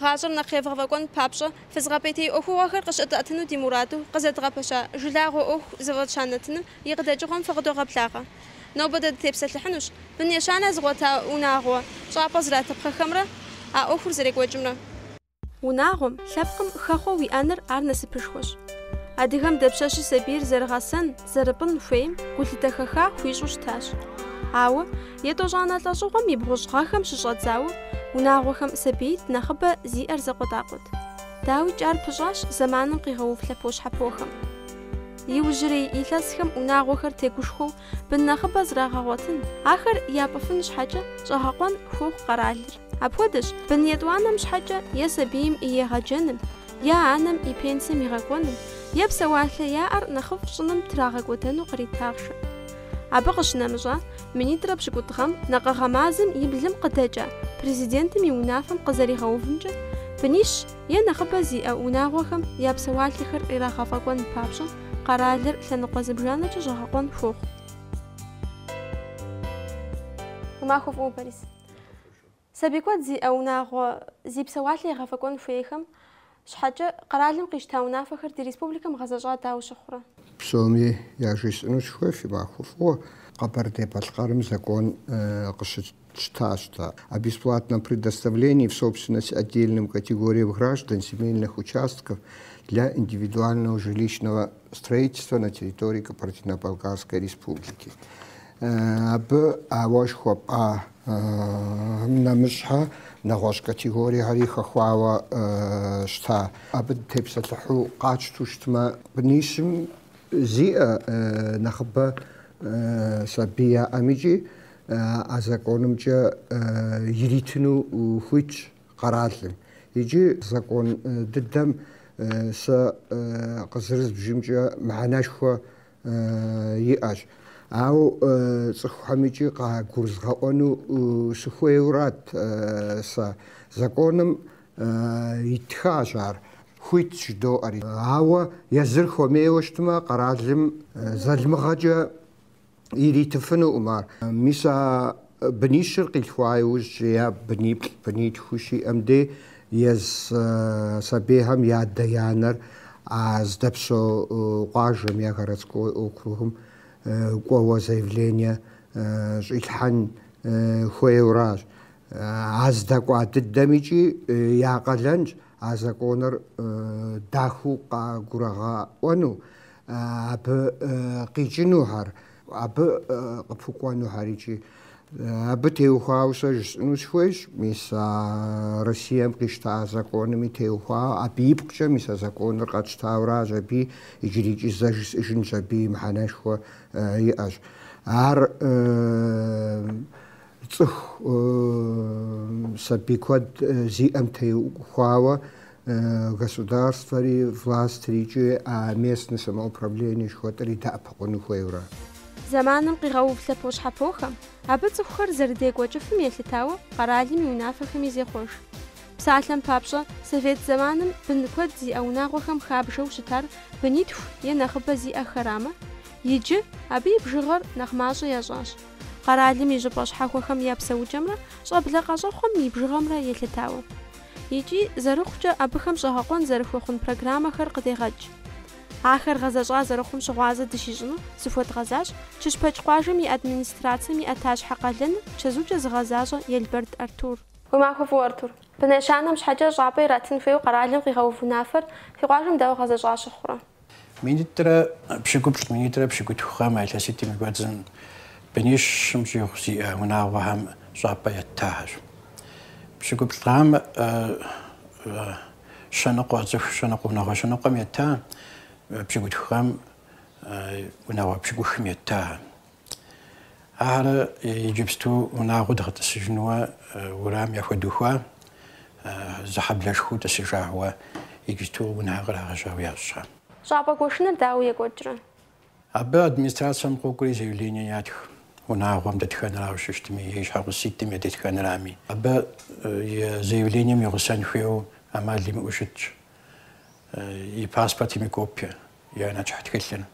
Гъащӏэр нэхъ евгъэфӏэкӏуэн папщӏэ, фызгъэпӏейтей ӏуэхугъуэхэр къыщытӏэтыну ди мураду къызэдгъэпэща жылагъуэ ӏуэху зыфӏэтща нэтыным и къыдэкӏыгъуэм фыкъыдогъэблагъэ. Нобэ дэ дытепсэлъыхьынущ бын ещанэ зыгъуэта унагъуэ щӏапӏэ зратыпхъэхэмрэ а ӏуэхур зэрекӏуэкӏымрэ. Унагъуэм, лъэпкъым хэхъуэ уиӏэныр ар насыпышхуэщ. Адыгэм дапщэщи сабийр зэрыгъэсэн, зэрыпӏын хуейм гулъытэ хэха хуищӏу щытащ. Ауэ, етӏощӏанэ лӏэщӏыгъуэм и бгъущӏ гъэхэм щыщӏэдзауэ, унагъуэхэм сабиитӏ нэхъыбэ зиӏэр зэкъуэтӏакъуэт. Дауикӏ ар пыщӏащ зэманым къигъэув лъэпощхьэпохэм. Иужьрей илъэсхэм унагъуэхэр тегушхуэу бын нэхъыбэ зрагъэгъуэтын, ахэр япӏыфын щхьэкӏэ щӏэгъэкъуэн хуохъу къэралыр. Апхуэдэщ бын етӏуанэм щхьэкӏэ е сабийм и егъэджэным, е анэм и пенсием игъэкӏуэным, е псэуалъэ яӏэр нэхъыфӏ щӏыным трагъэкӏуэдэну кърит ахъшэ. Абы къыщынэмыщӏа, минитӏрэ пщыкӏутӏ гъэм накъыгъэ мазэм и блым къыдэкӏа Президентым и унафэм къызэригъэувымкӏэ, бынищ е нэхъыбэ зиӏэ унагъуэхэм я псэуалъэхэр ирагъэфӏэкӏуэн папщӏэ къэралыр лъэныкъуэ зыбжанэкӏэ щӏэгъэкъуэн хуохъу. Уи махуэ фӏыуэ, Борис. Сабий куэд зиӏэ унагъуэ зи псэуалъэ егъэфӏэкӏуэн хуейхэм щхьэкӏэ къэралым къищта унафэхэр ди республикэм гъэзэщӏа дауэ щыхъурэ? Псоми яжесӏэну сыхуейщ фи махуэ фӏыуэ. Къэбэрдей-Балъкъэрым закон къыщытщтащ дэ о бесплатном предоставлении в собственность отдельным категориям граждан земельных участков для индивидуального жилищного строительства на территории Кабардино-Балкарской Республики. Абы а уэ жыхуэпӏам нэмыщхьэ нэгъуэщӏ категориехэри хэхуауэ щыта. Абы дытепсэлъыхьу къатщту щытмэ, бынищым зиӏэ нэхъыбэ сабий яӏэм икӏи а законымкӏэ иритыну хуитщ къэралым. Икӏи закон дыдэм сэ къызэрызбжымкӏэ мыхьэнэшхуэ иӏэщ. Ауэ цӏыхухэм икӏи къагурызгъэӏуэну сыхуейурат сэ. Законым итхащ ар, хуитщ жыдоӏэри. Ауэ езыр хуэмейуэ щытмэ, къэралым залмыгъэкӏэ иритыфынукъым ар. Мис а Бынищыр къилъхуа иужькӏэ е быниплӏ, бынитху щиӏэм дей езы сабийхэм я адэ-анэр а здэпсо къуажэм я городской округым кӏуэуэ заявление щӏилъхьэн хуейуэращ. А здэкӏуа дыдэм икӏи я къалэнщ а законыр дахэу къагурагъэӏуэну, абы къикӏынухэр. Абы къыпхукӏуэнухэр икӏи. Абы теухуауэ сэ жысӏэну схуейщ, мис а Россием къищта а закоными теухуауэ, абы ипкъкӏэ мис а законыр къэтщтауращ аби, иджырикӏи зэ жысӏэжынщ, абы мыхьэнэшхуэ иӏэщ. Ар цӏыху сабий куэд зиӏэм теухуауэ государствэри, властри икӏи а местнэ самоуправление жыхуэтӏэри дэӏэпыкъуну хуейуэрэ. Зэманым къигъэув лъэпощхьэпохэм абы цӏыхухэр зэрыдекӏуэкӏыфым елъытауэ къэралым и унафэхэми зехъуэж. Псалъэм папщӏэ, совет зэманым бын куэд зиӏэ унагъуэхэм хабжэу щытар бынитху е нэхъыбэ зиӏэхэрамэ, иджы абы и бжыгъэр нэхъ мащӏэ ящӏащ, къэралым и щӏыпӏэ щхьэхуэхэм я псэукӏэмрэ щӏэблэ къэщӏэхъуэм и бжыгъэмрэ елъытауэ. Икӏи, зэрыхъукӏэ, абыхэм щӏэгъэкъуэн зэрыхуэхъун программэхэр къыдегъэкӏ. Ахэр гъэзэщӏа зэрыхъум щыгъуазэ дыщищӏыну зыхуэдгъэзащ Кыщпэк къуажэм и администрацэм и ӏэтащхьэ къалэныр чэзукӏэ зыгъэзащӏэ Елбэрд Артур. Уи махуэ фӏыуэ, Артур. Бын ещанэм щхьэкӏэ щӏапӏэ иратын хуейуэ къэралым къигъэув унафэр фи къуажэм дауэ гъэзэщӏа щыхъурэ? Минитӏрэ пщыкӏуплӏ, минитӏрэ пщыкӏутху гъэм а илъэситӏым и кӏуэцӏым бынищым щӏигъу зиӏэ унагъуэхэм щӏапӏэ еттахэщ. Пщыкӏуплӏ гъэм щэныкъуэ цӏыху щэныкъуэ унагъуэ щэныкъуэм етта, пщыкӏутху гъэм унагъуэ пщыкӏухым етта. Ахэр иджыпсту унагъуэ дгъэтӏысыжынуэ уэрам яхуэдухуа, зы хьэблэшхуэу тӏысыжауэ, иджыпсту унэ кърагъэжьауэ ящӏэ. Щӏапӏэ гуэшыныр дауэ екӏуэкӏрэ? Абы администрацэм къокӏуэри заявление ятх, унагъуэм дэтхэнэрауэ щытми, и щхьэгъуситӏым я дэтхэнэрами. Абы заявлением и гъусэн хуейуэ ӏэмал имыӏэу щытщ и паспортым и копие. я нэчыхь тхылъыр,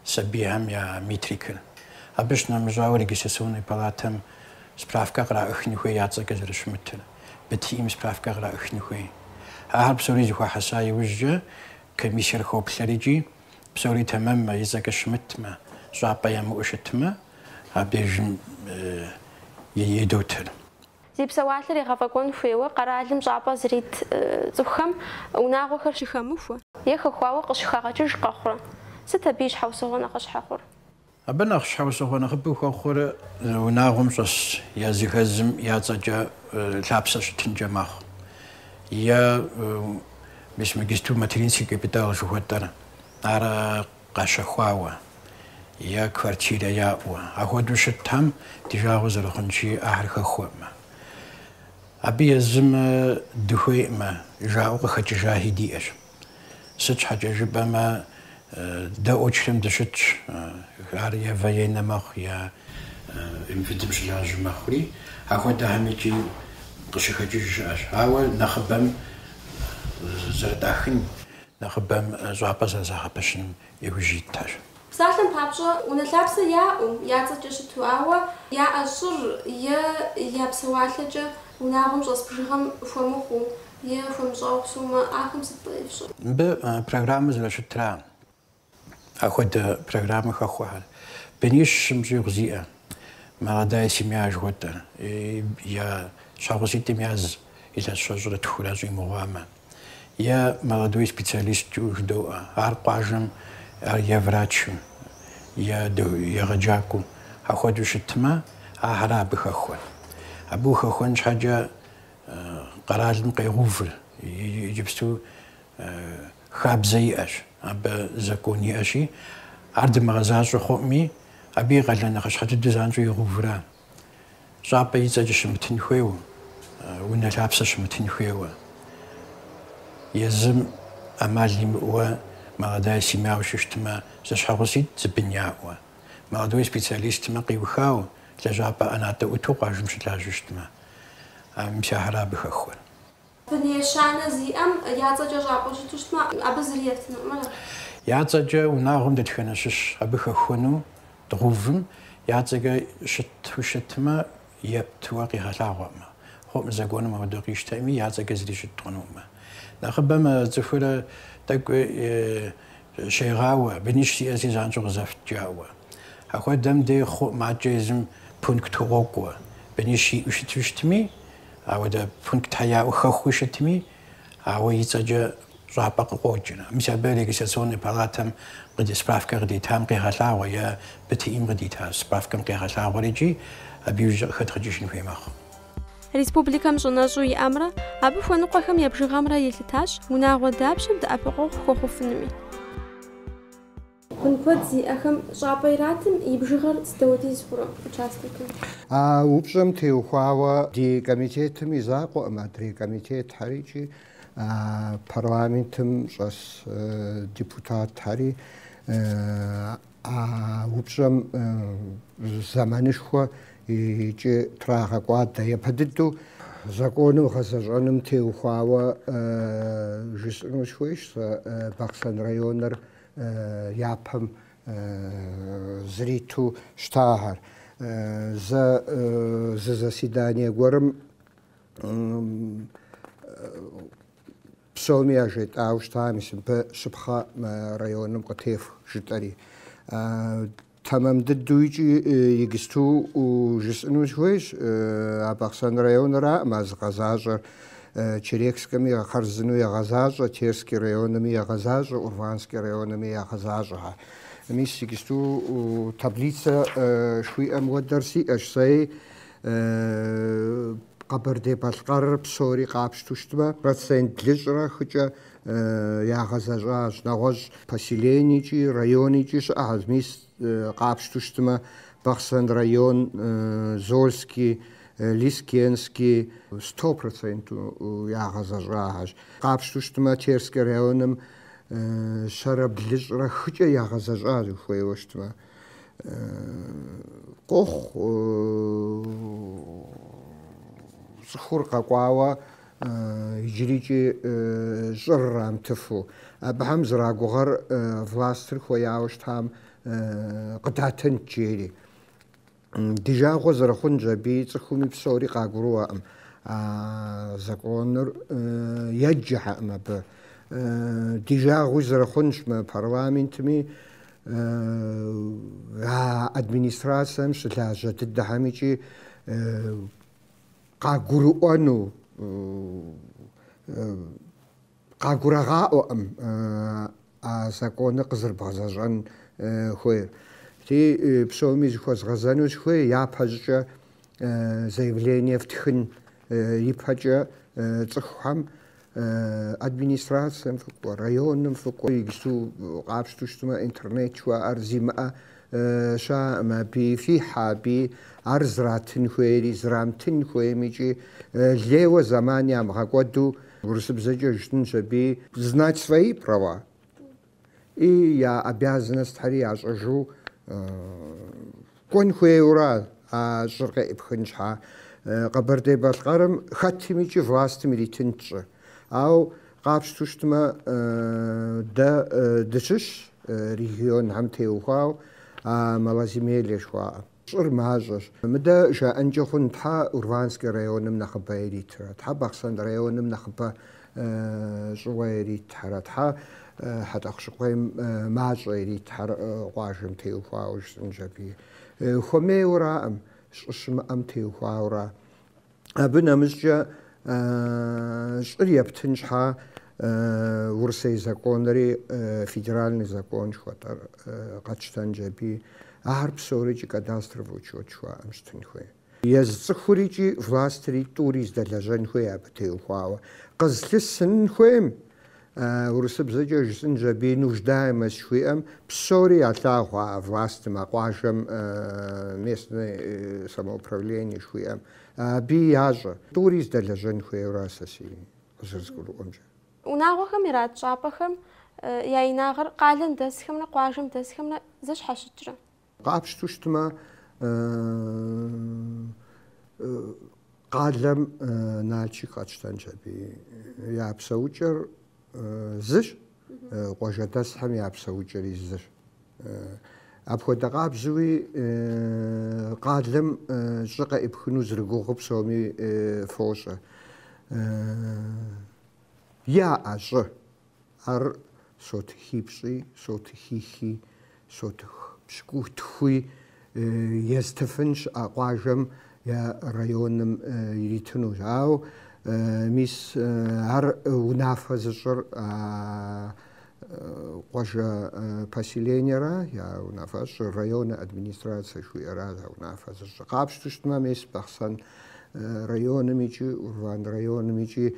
сабийхэм я метрикэр. Абы щынэмыщӏауэ, регистрационнэ палатэм справкэ къраӏыхын хуей я цӏэкӏэ зэрыщымытыр, БТИ-м справкэ къраӏыхын хуей. Ахэр псори зэхуахьэса иужькӏэ комиссиер хоплъэр икӏи, псори тэмэммэ, и цӏэкӏэ щымытмэ, щӏапӏэ ямыӏэу щытмэ, абдеж едотыр. Зи псэуалъэр егъэфӏэкӏуэн хуейуэ къэралым щӏапӏэ зрит цӏыхухэм унагъуэхэр щыхэмыхуэ е хэхуауэ къыщыхагъэкӏыж къэхъурэ? Сыт абы и щхьэусыгъуэ нэхъыщхьэ хъур? Абы нэхъ щхьэусыгъуэ нэхъыбэу хуэхъур унагъуэм щӏэс языхэзым я цӏэкӏэ лъапсэ щытынкӏэ мэхъу. Е мис мы иджыпсту материнский капитал жыхуэтӏэр ар къащэхуауэ е квартирэ яӏэу, ахуэдэу щытхэм ди жагъуэ зэрыхъунщи, ахэр хэхуэӏымэ. Абы езым дыхуейӏымэ, жаӏэу къыхэкӏыжахи диӏэщ. Сыт щхьэкӏэ жыпӏэмэ, дэ очрэм дыщытщ, ар е военнэ мэхъу, е МВД-м щылажьэ мэхъури, ахуэдэхэм икӏи къыщыхэкӏыж щыӏэщ. Ауэ нэхъыбэм зэрытӏахын. нэхъыбэм щӏапӏэ зэрызагъэпэщыным иужь итхэщ. Псалъэм папщӏэ, унэ лъапсэ яӏэу, я цӏэкӏэ щыту, ауэ яӏэ щӏыр е я псэуалъэкӏэ унагъуэм щӏэс бжыгъэм хуэмыхъуу е хуэмыщӏауэ псэумэ, ахэм сыт ефщӏэр? Абы программэ зэрыщытра. Ахуэдэ программэ хэхуэхэр бынищым щӏигъу зиӏэ, молодая семья жыхуэтӏэ, е щхьэгъуситӏым яз илъэс щэщӏрэ тхурэ щӏимыгъуамэ, е Молодой специалист жыдоӏэ, ар къуажэм е врачу, е егъэджакӏуэу, ахуэдэу щытмэ, ахэра абы хэхуэр. Абы ухэхуэн щхьэкӏэ къэралым къегъэувыр, иджыпсту Хабзэ иӏэщ, абы закон иӏэщи, ар дымыгъэзащӏэ хъуӏми, абы и къалэн нэхъыщхьэ дыдэу занщӏэу игъувра? Щӏапӏэ и цӏэкӏэ щымытын хуейуэ, унэ лъапсэ щымытын хуейуэ, езым ӏэмал имыӏэуэ молодая семьяу щыщтмэ, зэщхьэгъуситӏ зы бын яӏэуэ, молодой специалистмэ къиухауэ, лэжьапӏэ ӏэнатӏэ ӏуту къуажэм щылажьэу щытмэ, мис ахэра абы хэхуэр. Бын ещанэ зиӏэм я цӏэкӏэ щӏапӏэ щыту щытмэ, абы зыри ефтынукъым, ара? Я цӏэкӏэ унагъуэм дэтхэнэ щыщ абы хэхуэну дгъувым я цӏэкӏэ щыту щытмэ, ептуэ къигъэлъагъуэкъымэ. Хъуӏым, законым апхуэдэу къищтэӏыми, я цӏэкӏэ зыри щыт хъунукъымэ. Нэхъыбэм а цӏыхур тӏэкӏуи щегъауэ, бынищ сиӏэщи занщӏэу къызэфт жаӏэуэ. Ахуэдэм дей хъуӏым, акӏэ езым пунктхэу къокӏуэ, бынищ иӏэу щыту щытми, Ауэдэ пунктхэ яӏэу хэхуэу щытми, ауэ и цӏэкӏэ щӏапӏэ къыкъуокӏри. Мис абы Регистрационный палатэм къыди справкэ къыдитам къегъэлъагъуэ е БТИ-м къыдита справкэм къегъэлъагъуэр икӏи абы иужькӏэ къыхэдгъэкӏыжын хуей мэхъу. Республикэм щӏэнэщӏу иӏэмрэ абы хуэныкъуэхэм я бжыгъэмрэ елъытащ унагъуэ дапщэм дэӏэпыкъуэгъу хуэхъуфынуми. Бын куэд зиӏэхэм щӏапӏэ иратым и бжыгъэр сыт хуэдиз хъурэ участокым? А упщӏэм теухуауэ ди комитетым и закъуэкъым, адрей комитетхэр икӏи парламентым щӏэс депутатхэри а упщӏэм зэманышхуэ икӏи трагъэкӏуадэ. Япэ дыдэу законым гъэзэщӏэным теухуауэ жысӏэну сыхуейщ сэ Бахъсэн районыр япэм зриту щытахэр. Зэ зы заседание гуэрым псоми яжетӏауэ щытам, мис мыбы щапхъэ мы районым къытефх жытӏэри. Тэмэм дыдэу икӏи игсту жысӏыну сыхуейщ, а Бахъсэн районыракъым ар зыгъэзащӏэр. Черекскэми хъарзынэу ягъэзащӏэ, Терский районми ягъэзащӏэ, Урванский районми ягъэзащӏэ. Мис игсту таблицэ жыхуиӏэм хуэдэр сиӏэщ сэи, Къэбэрдей-Балъкъэрыр псори къапщту щытмэ, процент блыщӏрэ хыкӏэ ягъэзэщӏащ, нэгъуэщӏ поселенийкӏи, районийкӏи щыӏэхэщ, мис къапщту щытмэ, Бахъсэн район, Зольский, Лескенский сто проценту ягъэзэщӏахэщ. Къапщту щытмэ, Терский районым щэрэ блыщӏрэ хыкӏэ ягъэзэщӏащ, хуейуэ щытмэ. Къохъу цӏыхур къэкӏуауэ Иджырикӏи щӏыр ирамытыфу, абыхэм зэрагугъэр властыр хуеяуэ щытам къыдатынт жери. Ди жагъуэ зэрыхъунщ аби, цӏыхуми псори къагурыӏуэкъым, а законыр еджэхэкъым абы. Ди жагъуи зэрыхъунщ мы парламентми, а администрацэм щылажьэ дыдэхэмикӏи къагурыӏуэну къагурагъаӏуэкъым а законыр къызэрыбгъэзэщӏэн хуейр. Ти псоми зыхуэзгъэзэну сыхуей, япэщӏыкӏэ заявление фтхын ипэкӏэ цӏыхухэм Администрацэм фыкӏуэ, районым фыкӏуэ, иджысту къапщту щытмэ, интернет жыхуаӏэр зимыӏэ щыӏэкъым, абы фихьэ, абы ар зратын хуейри, зрамтын хуейм икӏи лейуэ зэман ямыгъэкӏуэду урысыбзэкӏэ жытӏэнщ аби. Знать свои права. И я обязанностьхэри ящӏэжу кӏуэн хуейуэра а щӏыр къеӏыпхын щхьа? Къэбэрдей-Балъкъэрым хэтым икӏи властым иритынт щӏы. Ауэ къапщту щытмэ, дэ дыщыщщ регионхэм теухуауэ а малоземелье жыхуаӏэм. Щӏыр мащӏэщ. Мыдэ жаӏэнкӏэ хъун, Тхьэ Урванскэ районым нэхъыбэ иритрэ? Тхьэ Бахъсэн районым нэхъыбэ щӏыуэ иритхэрэ? Тхьэ Хьэтӏэхъущыкъуейм мащӏэ иритхэрэ, къуажэм теухуауэ жысӏэнщ аби. Хуэмейуэраӏым, щӏы щымыӏэм теухуауэра? Абы нэмыщӏкӏэ щӏыр ептын щхьа Урысей законри федеральный закон жыхуэтӏэр къэтщтэнщ аби, ар псорикӏи кадастровый учет жыхуаӏэм щытын хуей. Езы цӏыхурикӏи властри тӏури здэлэжьэн хуей абы теухуауэ. Къызлъысын хуейм Урысыбзэкӏэ жысӏынщ аби нуждаемость жыхуиӏэм псори ялъагъу а властым, а къуажэм местное самоуправление жыхуиӏэм. Абы ящӏэ. Тӏури здэлэжьэн хуейуэ ара сэ си къызэрызгурыӏуэмкӏэ? Унагъуэхэм ират щӏапӏэхэм я инагъыр къалэм дэсхэмрэ къуажэм дэсхэмрэ зэщхьэщыкӏрэ? Къапщту щытмэ, къалэм Налшык къэтщтэнщ аби я псэукӏэр зыщ, къуажэдэсхэм я псэукӏэри зыщ. Апхуэдэ къабзэуи къалэм щӏы къэӏыпхыну зэрыгугъу псоми фощӏэ. Яӏэ щӏы, Ар сотыхипщӏи, сотыхихи, сотых пщыкӏутхуи езытыфын щыӏэ къуажэм е районым иритыну. Ауэ мис ар унафэ зыщӏыр а къуажэ поселениера, я унафэ зыщӏыр, районэ администрацэ жыхуиӏэра а унафэ зыщӏыр. Къапщту щытмэ, мис Бахъсэн районым икӏи Урван районым икӏи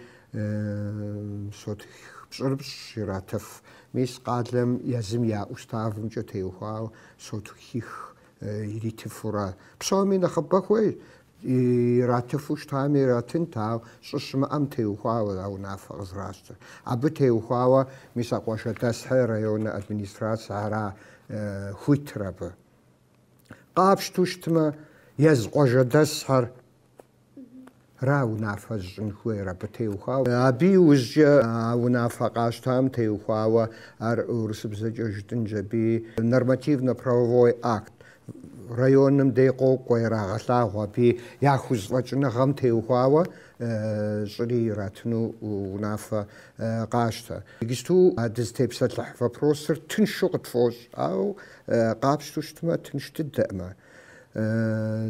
Сотых пщӏырыпщӏ иратыф. Мис къалэм езым я уставымкӏэ теухуа сотыхих иритыфу ара. Псоми нэхъыбэ хуей, иратыфу щытами иратынт, ауэ щӏы щымыӏэм теухуауэ а унафэ къызэращтэр. Абы теухуауэ мис а къуажэдэсхэ районнэ администрацэ ара хуитыр абы. Къапщту щытмэ, езы къуажэдэсхэр Ра унафэ зыщӏын хуейр абы теухуауэ. Абы иужькӏэ а унафэ къащтам теухуауэ ар урысыбзэкӏэ жытӏынщ аби нормативно-правовой акт. Районым дей къокӏуэ, ирагъэлъагъу аби яхузэфӏэкӏыныгъэм теухуауэ щӏыри иратыну унафэ къащтэ. Иджысту а дызытепсэлъыхь вопросыр тыншу къытфӏощӏ, ауэ къапщтэу щытмэ, тынш дыдэӏымэ.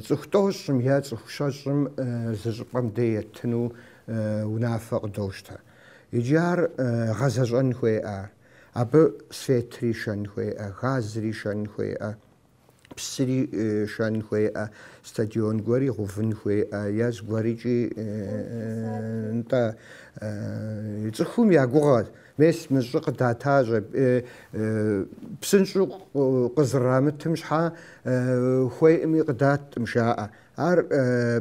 Цӏыху тӏощӏым е цӏыху щэщӏым зы щӏыпӏэм дей етыну унафэ къыдощтэ. Иджы ар гъэзэщӏэн хуеӏэ, абы светри шэн хуеӏэ, газри шэн хуеӏэ, псыри шэн хуеӏэ, стадион гуэри гъувын хуеӏэ, е зыгуэрикӏи нтӏэ. Цӏыхум я гугъэ. Мес мы щӏы къыдатащӏэ, псынщӏэу къызырамытым щхьэ хуейӏыми къыдаткъым жаӏэ. Ар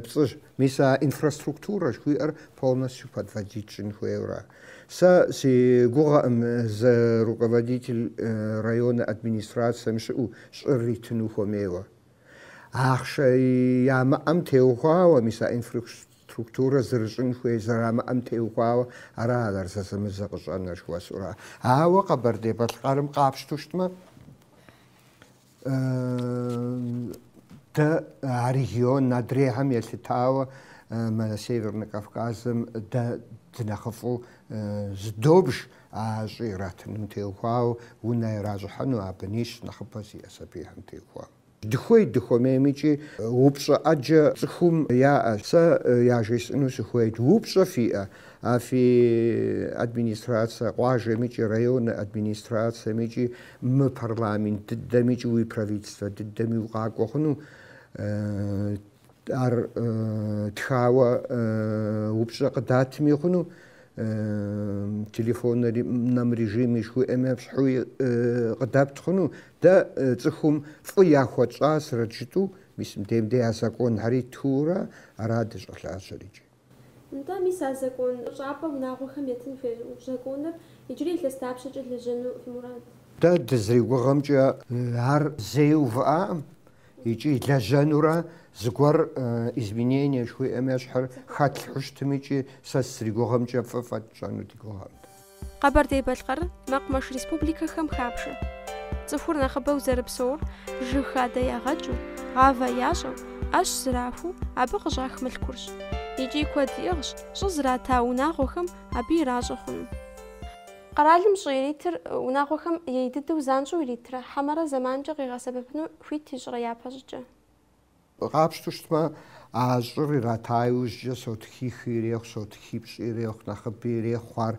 пцӏыщ. Мис а инфраструктурэ жыхуиӏэр полностью подводить щӏын хуейуэра? Сэ си гугъэкъым зы руководитель районнэ администрацэм щыӏэу щӏыр иритыну хуэмейуэ. Ахъшэ ямыӏэм теухуауэ мис а инфра. Структурэ зэрыщӏын хуей зэрамыӏэм теухуауэ ара ар зэзэмызэ къыщӏэныр, жыхуэсӏура? Ауэ Къэбэрдей-Балъкъэрым къапщту щытмэ, дэ а регион адрейхэм елъытауэ мы Севернэ Кавказым дэ дынэхъыфӏу зыдобж а щӏы иратыным теухуауэ унэ иращӏыхьэну, а бынищ нэхъыбэ зиӏэ сабийхэм теухуауэ. Дыхуей дыхуэмейм икӏи упщӏэ ӏэджэ цӏыхум яӏэ. Сэ яжесӏэну сыхуейт, упщӏэ фиӏэ а фи администрацэ къуажэм икӏи районнэ администрацэм икӏи мы парламент дыдэм икӏи уи правительствэ дыдэми укъакӏуэ хъуну? Ар тхауэ упщӏэ къыдатми хъуну, телефонном режиме жыхуиӏэм ещхьуи къыдэпт хъуну. Дэ цӏыхум фӏы яхуэтщӏа срэдджытӏу, мис мыбдейм дей а законхэри ттхыурэ ара дыщӏэлажьэр икӏи. Нтӏэ, мис а закон фӏы щӏапӏэ унагъуэхэм етын хуей законыр иджырей илъэс дапщэкӏэ лэжьэну фи мурад? Дэ дызэригугъэмкӏэ, ар зэи увыӏакъым икӏи лэжьэнурэ зыгуэр изменение жыхуиӏэм ещхьыр хэтлъхьэу щытым икӏи сэ сызэригугъэмкӏэ фӏы фӏэкӏ тщӏэну ди гугъэкъым. Къэбэрдей-Балъкъэр мэкъумэш республикэхэм хабжэ. Цӏыхур нэхъыбэу зэрыпсэур жыг хадэ ягъэкӏыу, гъавэ ящӏэу, ӏэщ зэрахуэу абы къыщӏах мылъкурщ. Икӏи куэд иӏыгъщ щӏы зрата унагъуэхэм абы иращӏэ хъуну. Къэралым щӏы иритыр унагъуэхэм ей дыдэу занщӏэу иритрэ хьэмэрэ зэманкӏэ къигъэсэбэпыну хуит ищӏрэ япэщӏыкӏэ? Къапщтэу щытмэ, а щӏыр ирата иужькӏэ, сотхихи ирехъу, сотхипщӏи ирехъу, нэхъыби ирехъу ар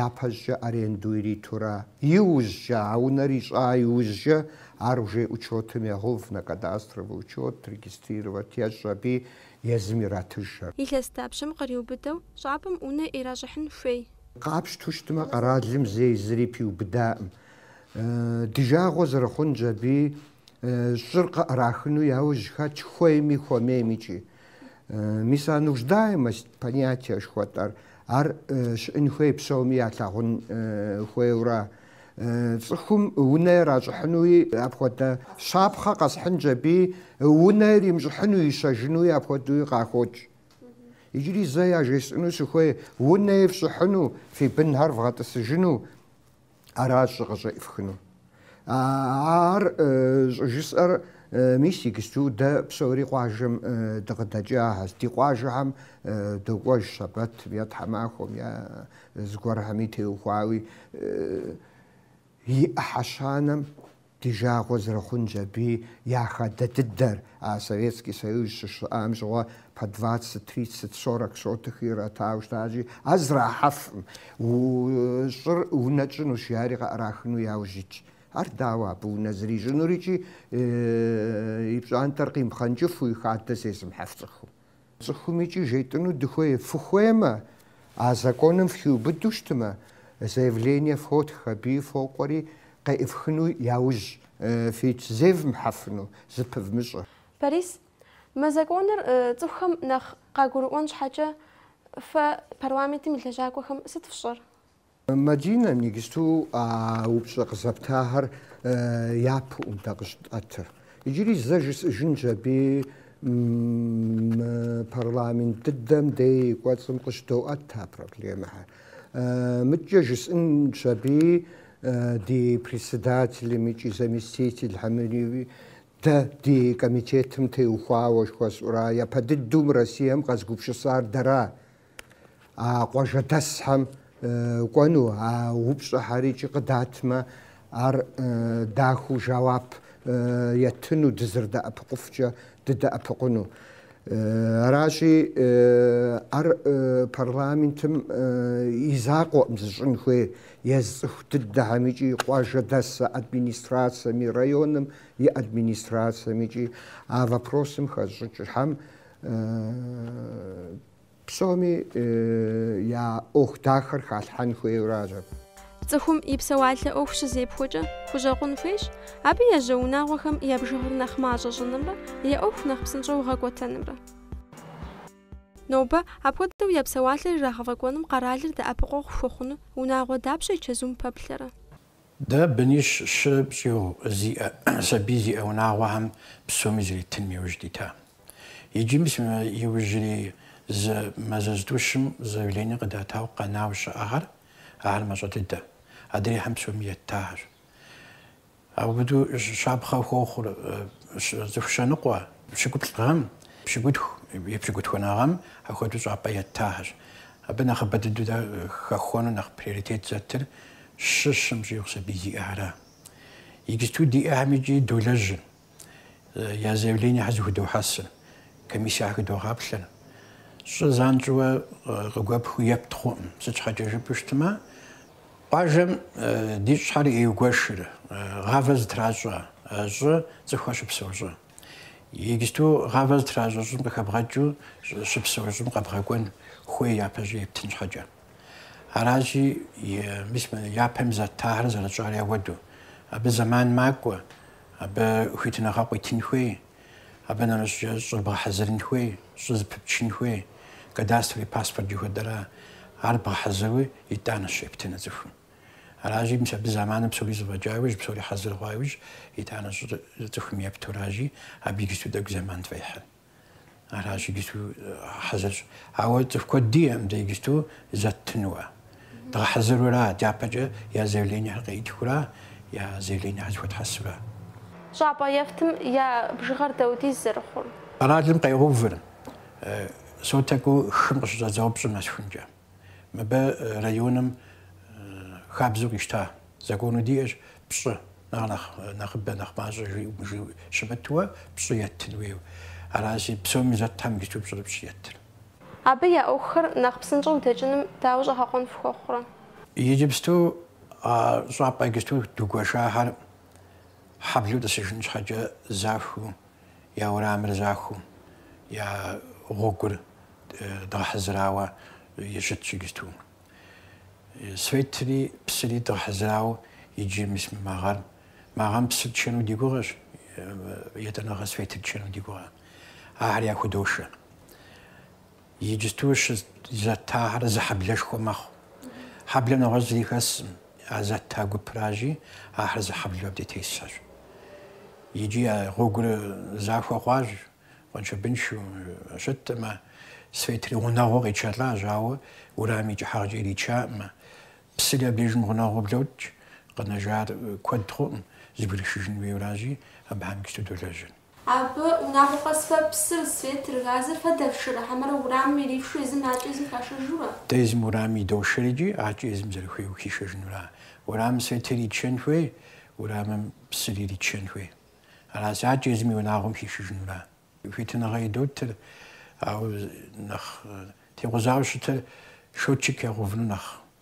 япэщӏыкӏэ аренду иритурэ. Иужькӏэ, а унэр ищӏа иужькӏэ, ар уже учетым ягъэув, на кадастровый учет регистрировать ещӏ, аби езым иратыж ар. Илъэс дапщэм къриубыдэу щӏапӏэм унэ иращӏыхьын хуей? Къапщтэу щытмэ, къэралым зэи зыри пиубыдаӏым. Ди жагъуэ зэрыхъунщ аби Щӏыр къыӏэрахыну яужь хэтщ хуейми хуэмейми икӏи. Мис а нуждаемость понятия жыхуэтӏэр, ар щыӏын хуей псоми ялъагъун хуейуэра? Цӏыхум унэ иращӏыхьынуи апхуэдэ щапхъэ къэсхьынщ, аби унэ иримыщӏыхьыну, ищэжынуи апхуэдэуи къахокӏ. Иджыри зэ яжесӏэну сыхуей, унэ ифщӏыхьыну, фи бынхэр вгъэтӏысыжыну, Аращ щӏы къыщӏеӏыфхыну. Ар щӏыжысӏэр мис иджысту дэ псори къуажэм дыкъыдэкӏахэщ. Ди къуажэхэм докӏуэж щэбэтым е тхьэмахуэм е зыгуэрхэми теухуауи и ӏыхьэ щанэм Ди жагъуэ зэрыхъунщ аби я хадэ дыдэр, а Советский Союз щыщыӏам щыгъуэ по двадцать, тридцать, сорок сотых иратау щытащи, ар зэрахьэфкъым, щӏыр унэ тщӏынущ, жари къыӏэрахыну яужь итщ. Ар дауэ абы унэ зэрищӏынур икӏи и пщӏантӏэр къимыпхъэнкӏыфу и хадэ зезымыхьэф цӏыхум? Цӏыхум икӏи жетӏыну дыхуей фыхуеймэ, а законым фыхиубыдэу щытмэ, заявление фотх, аби фокӏуэри къеӏыфхыну яужь фит зевмыхьэфыну, зыпывмыщӏэ. Борис, мы законыр цӏыхухэм нэхъ къагурыӏуэн щхьэкӏэ, фэ парламентым и лэжьакӏуэхэм сыт фщӏэр? Мадинэ, иджысту а упщӏэ къызэптахэр япэкъым дэ къыщытӏэтыр. Иджыри зэ жысӏыжынщ аби мы парламент дыдэм дей и кӏуэцӏым къыщыдоӏэт а проблемэхэр. Мыдэкӏэ жысӏынщ аби ди председателым икӏи заместительхэмри дэ ди комитетым теухуауэ жыхуэсӏура, япэ дыдэу мы Россием къэзыгупщысар дэра? А къуажэдэсхэм кӏуэну а упщӏэхэр икӏи къыдатмэ, ар дахэу жэуап етыну, дызэрыдэӏэпыкъуфкӏэ дыдэӏэпыкъуну. Аращи, ар парламентым и закъуэкъым зыщӏын хуей езы цӏыху дыдэхэм икӏи къуажэдэс администрацэми, районым и администрацэм икӏи а вопросым хэзыщӏыкӏхэм Псоми я ӏуэху дахэр халъхьэн хуейуэ аращ. Цӏыхум и псэуалъэ ӏуэху щызепхуэкӏэ хущӏэкъун хуейщ, абы ежьэ унагъуэхэм я бжыгъэр нэхъ мащӏэ щӏынымрэ я ӏуэху нэхъ псынщӏэу гъэкӏуэтэнымрэ. Нобэ апхуэдэу я псэуалъэр ирагъэфӏэкӏуэным къэралыр дэӏэпыкъуэгъу хуэхъуну унагъуэ дапщэ и чэзум пэплъэрэ? Дэ бынищ, щым щӏигъу зиӏэ сабий зиӏэ унагъуэхэм псоми зэритыным и ужь дитащ. Иджы мис мы иужьрей зы мазэ зытӏущым заявление къыдатауэ къэнауэ щыӏэхэр, ахэр мащӏэ дыдэ, адрейхэм псоми еттахэщ. Апхуэдэу щапхъэ хуохъур цӏыху щэ ныкъуэ, пщыкӏуплӏ гъэм, пщыкӏутху е пщыкӏутхуанэ гъэм апхуэдэу щӏапӏэ еттахэщ. Абы нэхъыбэ дыдэу дэ хэхуэну нэхъ приоритет зэтыр щы, щым щӏигъу сабий зиӏэхэр ара. Иджысту диӏэхэм иджи долэжьыр. я заявлениехэр зыхудохьэсыр, комиссиехэр хыдогъаплъэр. Щӏы занщӏэуэ къыгуэпхыу ептхъуӏым. Сыт щхьэкӏэ жыпӏэу щытмэ, къуажэм ди щӏыхэр еугуэшыр, гъавэ зытращӏэ щӏы цӏыхухэр щыпсэу щӏы. Иджысту гъавэ зытращӏэ щӏым къыхэбгъэкӏыу щыпсэу щӏым къэбгъэкӏуэн хуей япэщӏи ептын щхьэкӏэ. Аращи, мис япэм зэттахэр зэрытщӏар яхуэдэу. Абы зэман макӏуэ, абы хуитыныгъэ къуитын хуей, абы нэмыщӏкӏэ щӏыр бгъэхьэзырын хуей, щӏы зыпыпчын хуей, кадастровый паспорт жыхуэтӏэра ар бгъэхьэзыруи итӏанэщ ептыну цӏыхум. Аращи, мис абы зэманым псори зэфӏэкӏа иужь, псори хьэзыр хъуа иужь, итӏанэщ цӏыхум епту, аращи, абы иджысту тӏэкӏу зэман тфӏехьыр. Аращ иджысту хьэзырщ. Ауэ цӏыху куэд диӏэӏым дэ иджысту зэттынуэ. Дгъэхьэзырура, дяпэкӏэ я заявлениехэр къеӏытхура, я заявлениехэр зыхуэтхьэсура? Щӏапӏэ ефтым я бжыгъэр дапхуэдиз зэрыхъур къэралым къегъэувыр, соткэу хым къыщыщӏэдзауэ пщӏым нэсхункӏэ. Мыбы районым хабзэу къищта закону диӏэщ, пщӏы нэхъ нэхъыбэ, нэхъ мащӏэ жиӏэу щымытуэ пщӏы еттын хуейуэ. Аращи, псоми зэттхэм иджысту пщӏырыпщӏ еттыр. Абы я ӏуэхухэр нэхъ псынщӏэу дэкӏыным дауэ щӏэгъэкъуэн фхуэхъурэ? Иджыпсту а щӏапӏэ иджысту дгуэшахэр хьэблэу тӏысыжын щхьэкӏэ захуэу Я уэрамыр захуэу, я гъуэгур дгъэхьэзырауэ щытщ иджысту. Светри псыри дгъэхьэзырауэ иджы мис мы магъэр. Магъэм псыр тчэну ди гугъэщ, етӏанэгъэ светыр тчэну ди гугъэ. Ахэр яхудошэ. Иджысту щӏы зэттахэр зы хьэблэшхуэ мэхъу. Хьэблэм нэгъуэщӏ зыри хэсӏым, а зэтта гупращи, ахэр зы хьэблэу абди тесхэщ. Иджи а гъуэгур захуэ хъуащ, къуэншыбыншэу щыттэмэ, светри гъунэгъуу къичэлӏащ, ауэ уэрамым и кӏыхьагъкӏэ иричаӏымэ. Псыри абдежым гъунэгъуу блокӏ, къэнэжар куэд хъуӏым, зыбгрышыжын хуейуэращи, абыхэм иджысту долэжьыр. Абы унагъуэ къэсыху, псыр, светыр, газыр фэ дэфшыр, ахэмэрэ урамым ирифшу езым акӏэ езым хашэжыу ара? Дэ езым уэрамым идошэр икӏи акӏэ езым зэрыхуейуэ хишэжынура? Уэрамым светыр иритшэн хуей, уэрамым псыр иритшэн хуей. Аращ, акӏэ езым и унагъуэм хишыжынура? Хуитыныгъэ идотыр, ауэ нэхъ текъузауэ щытыр счётчик ягъэувыну нэхъ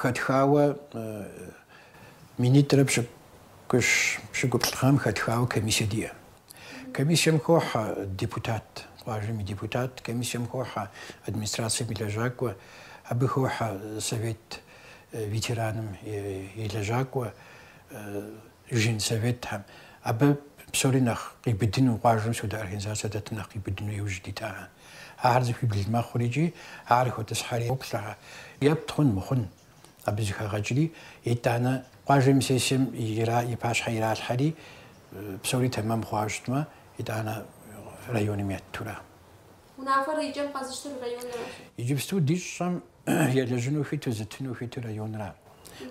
Хэтхауэ минитӏрэ пщыкӏуплӏ гъэм хэтхауэ комиссие диӏэ. Комиссием хохьэ депутат, къуажэм и депутат, комиссием хохьэ администрацием и лэжьакӏуэ, абы хохьэ совет ветераным и лэжьакӏуэ, Женсоветхэм. Абы псори нэхъ къиубыдыну, къуажэм сыт хуэдэ организацэ дэтым нэхъ къиубыдыну иужь дита. Ахэр цӏыхуибл мэхъур икӏи ахэр хотӏысхьэри хоплъэхэ. Епт хъун мыхъун абы зэхагъэкӏри, итӏанэ къуажэм и сессием и пащхьэ иралъхьэри, псори тэмэм хъуауэ щытмэ, итӏанэ районым еттура Унафэр и кӏэм къэзыщтыр районра? Иджыпсту ди щӏым елэжьыну хуиту, зытыну хуиту районра,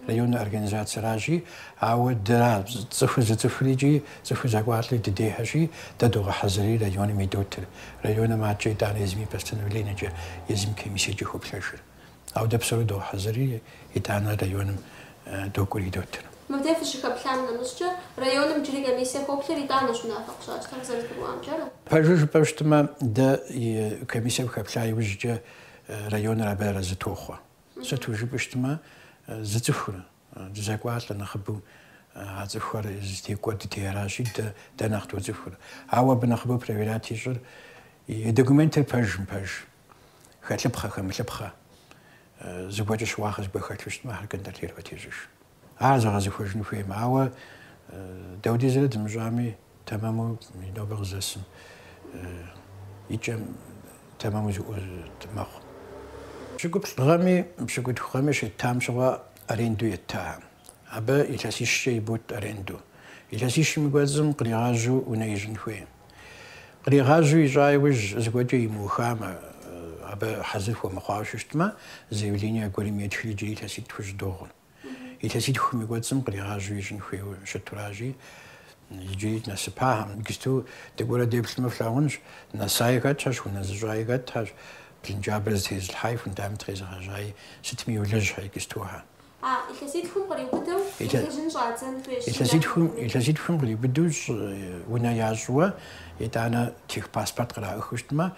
районнэ организацэращи, ауэ дэра цӏыху зыцӏыхури икӏи цӏыху зэкӏуалӏи ди дейхэщи, дэ догъэхьэзырри районым идотыр, районым акӏэ итӏанэ езым и постановлениекӏэ, езым комиссиекӏэ хоплъэжыр. Ауэ дэ псори догъэхьэзырри, итӏанэ районым докӏури дотыр. Мыбдеж фыщыхэплъам нэмыщӏкӏэ, районым иджыри комиссэ хоплъыр итӏанэщ унафэ къыщащтэр къызэрызгурыӏуамкӏэрэ? Пэжу жыпӏэу щытмэ, дэ комиссэм хэплъа иужькӏэ районыр абы арэзы тохъуэ. Сыту жыпӏэу щытмэ, зыцӏыхурэ. Дызэкӏуалӏэ нэхъыбэу а цӏыхухэр зыдэкӏуэ ди дей аращи, дэ дэ нэхъ доцӏыхур. Ауэ абы нэхъыбэу проверять ищӏыр и документыр пэж мыпэж, хэлъыпхъэ, хэмылъыпхъэ, зыгуэркӏэ щыуагъэ зыгуэр хэлъу щытмэ, ахэр контролировать ещӏыж. Ар зэгъэзэхуэжыну хуеймэ. Ауэ дэ апхуэдизрэ дымыщӏами, Тэмэму и нобэ къыздэсым и кӏэм тэмэму зыуэ мэхъу. Пщыкӏуплӏ гъэми пщыкӏутху гъэми щеттам щыгъуэ аренду етта. Абы илъэсищкӏэ ибот аренду. Илъэсищым и кӏуэцӏым къригъажьу унэ ищӏын хуей. Къригъажьу ищӏа иужь зыгуэркӏэ имыухамэ, абы хьэзыр хуэмыхъуауэ щытмэ, заявление аргуэрым етхри иджыри илъэситӏ хущӏыдогъур. Илъэситхум и кӏуэцӏым къригъажьэу ищӏын хуейуэ щытуращи, иджыри нэсыпакъым. Иджысту дыкӏуэрэ деплъмэ, флъагъунщ, нэсаи хэтщ, унэ зыщӏаи хэтщ, блынджабэр зытезылъхьаи, фундамент къезыгъэжьаи, сытми йолэжьхэ иджыстухэр. А илъэситхум къриубыдэу елэжьын щӏадзэн хуейщ. Илъэситхум къриубыдэу щӏ унэ ящӏуэ, итӏанэ техпаспорт къраӏыхыу щытмэ,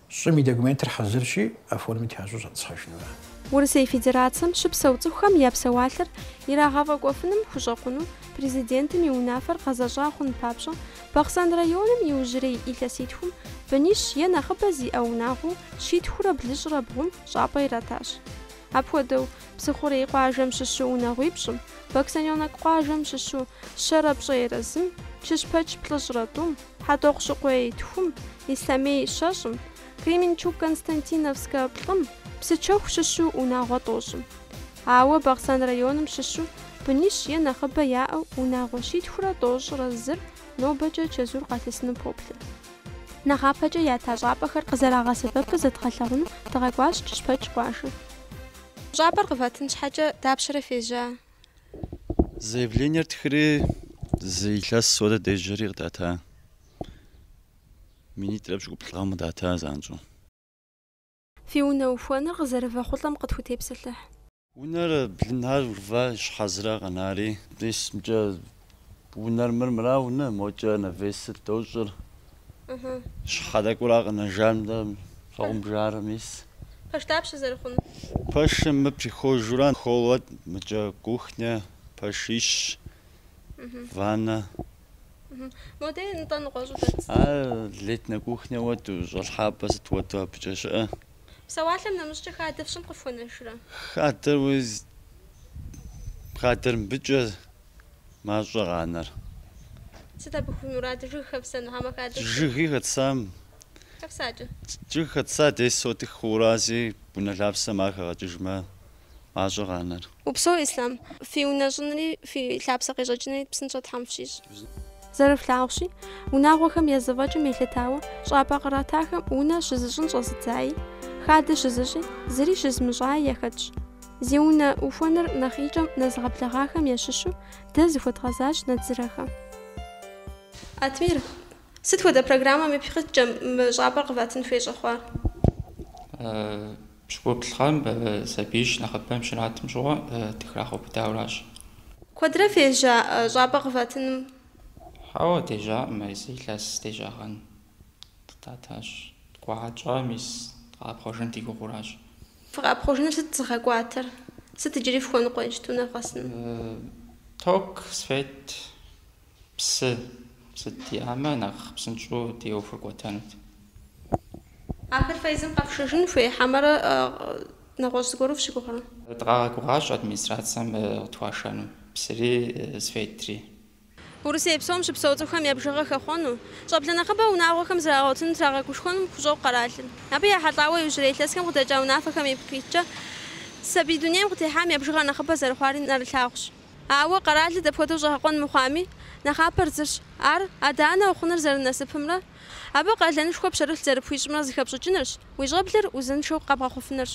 Щӏым и документыр хьэзырщи, оформить ящӏу щӏэтӏысхьэжынурэ. Урысей Федерацэм щыпсэу цӏыхухэм я псэуалъэр ирагъэфӏэкӏуэфыным хущӏэкъуну Президентым и унафэр гъэзэщӏа хъун папщӏэ, Бахъсэн районым иужьрей илъэситхум бынищ е нэхъыбэ зиӏэ унагъуэу щитхурэ блыщӏрэ бгъум щӏапӏэ иратащ. Апхуэдэу, Псыхъурей къуажэм щыщу унагъуипщӏым, Баксаненок къуажэм щыщу щэрэ пщӏейрэ зым, Чыщпэч плӏыщӏрэ тӏум, Хьэтӏохъущыкъуей тхум, Ислъэмей щэщӏым, Кременчуг-Константиновскэ плӏым, Псычэху щыщу унагъуэ тӏощӏым. Ауэ Бахъсэн районым щыщу бынищ е нэхъыбэ яӏэу унагъуэ щитхурэ тӏощӏрэ зыр нобэкӏэ чэзур къалъысыну поплъэ. Нэхъапэкӏэ ята щӏапӏэхэр къызэрагъэсэбэпыр зэдгъэлъагъуну дыкъэкӏуащ Кыщпэк къуажэ. Щӏапӏэр къывэтын щхьэкӏэ дапщэрэ фежьа? Заявлениер тхыри зы илъэс хуэдэ дежьэри къыдата. Минитӏрэ пщыкӏуплӏ гъэм къыдата занщӏэу. Фи унэ ухуэныр къызэрывэхъулӏэм къытхутепсэлъыхь. Унэр блынар урва щхьэзыра къэнари, дисымкӏэ Унэр мыр мыра унэ, мокӏэ навесыр дощӏыр. Щхьэ дэкӏура къэнэжам дэ щхьэгъумбжэрэ мис. Пэш дапщэ зэрыхъуну? Пэшым мы прихожэра холлэ, мыкӏэ кухня, пэшищ, ванна. Модей нтӏэ ныкъуэщӏу дэт? А летнэ кухня хуэдэу, щӏалъхьапӏэ сыт хуэдэу абыкӏэ щыӏэ. Псэуалъэм нэмыщӏкӏэ хадэ фщӏын къыфхуэнэжрэ? Хадэр уи хадэр мыбыкӏэ мащӏэ къанэр. Сыт абы фи мурад? Жыг хэфсэну, хьэмэ хадэ? Жыги хэтсам. Хэфсакӏэ. Жыг хэтса десять сотых хъуращи, унэ лъапсэм ар хэгъэкӏыжмэ, мащӏэ къанэр. Упсэу, Ислъам. Фи унэ щӏынри, фи лъапсэ къещӏэкӏынри псынщӏэ Тхьэм фщищӏ. Зэрыфлъагъущи, унагъуэхэм я зэфӏэкӏым елъытауэ щӏапӏэ къратахэм унэ щызыщӏын щӏэзыдзаи, хадэ щызыщӏи, зыри щызмыщӏаи яхэтщ. Зи унэ ухуэныр нэхъ икӏэм нэзыгъэблэгъахэм ящыщу дэ зыхуэдгъэзащ Надзырэхэм. Атмир, сыт хуэдэ программэм ипкъ иткӏэ мы щӏапӏэр къыватын хуей щӏэхъуар? Пщыкӏуплӏ гъэм сабиищ нэхъыбэм щратым щыгъуэ дыхрагъэубыдауращ. Куэдрэ фежьа щӏапӏэ къыватыным? Хьэуэ, дежьакъым, зы илъэс дежьагъэн къыдатащ. Ткӏуа тщӏа мис къэӏэпхъуэжын ди гугъуращ. Фыкъэӏэпхъуэжыныр сыт зыгъэкӏуатэр? Сыт иджыри фхуэныкъуэ иджыпсту нэвгъэсыну? Ток свет псы сыт диӏамэ нэхъ псынщӏэу ди ӏуэхур кӏуэтэнут. Ахэр фэ езым къэфшэжын хуей хьэмэрэ нэгъуэщӏ зыгуэру фыщыгугърэ? Дыкъагъэгугъащ администрацэм къытхуашэну псыри светри. Урысей псом щыпсэу цӏыхухэм я бжыгъэ хэхъуэну, щӏэблэ нэхъыбэ унагъуэхэм зрагъэгъуэтыну трагъэгушхуэным хущӏокъу къэралыр. Абы ехьэлӏауэ иужьрей илъэсхэм къыдэкӏа унафэхэм ипкъ иткӏэ сабий дунейм къытехьам я бжыгъэ нэхъыбэ зэрыхъуари нэрылъагъущ. Ауэ къэралыр дапхуэдэу щӏэгъэкъуэн мыхъуами, нэхъапэр зырщ, ар адэ-анэ ухъуныр зэрынасыпымрэ абы къалэнышхуэ пщэрылъ зэрыпхуищӏымрэ зыхэпщӏыкӏынырщ, уи щӏэблэр узыншэу къэбгъэхъуфынырщ.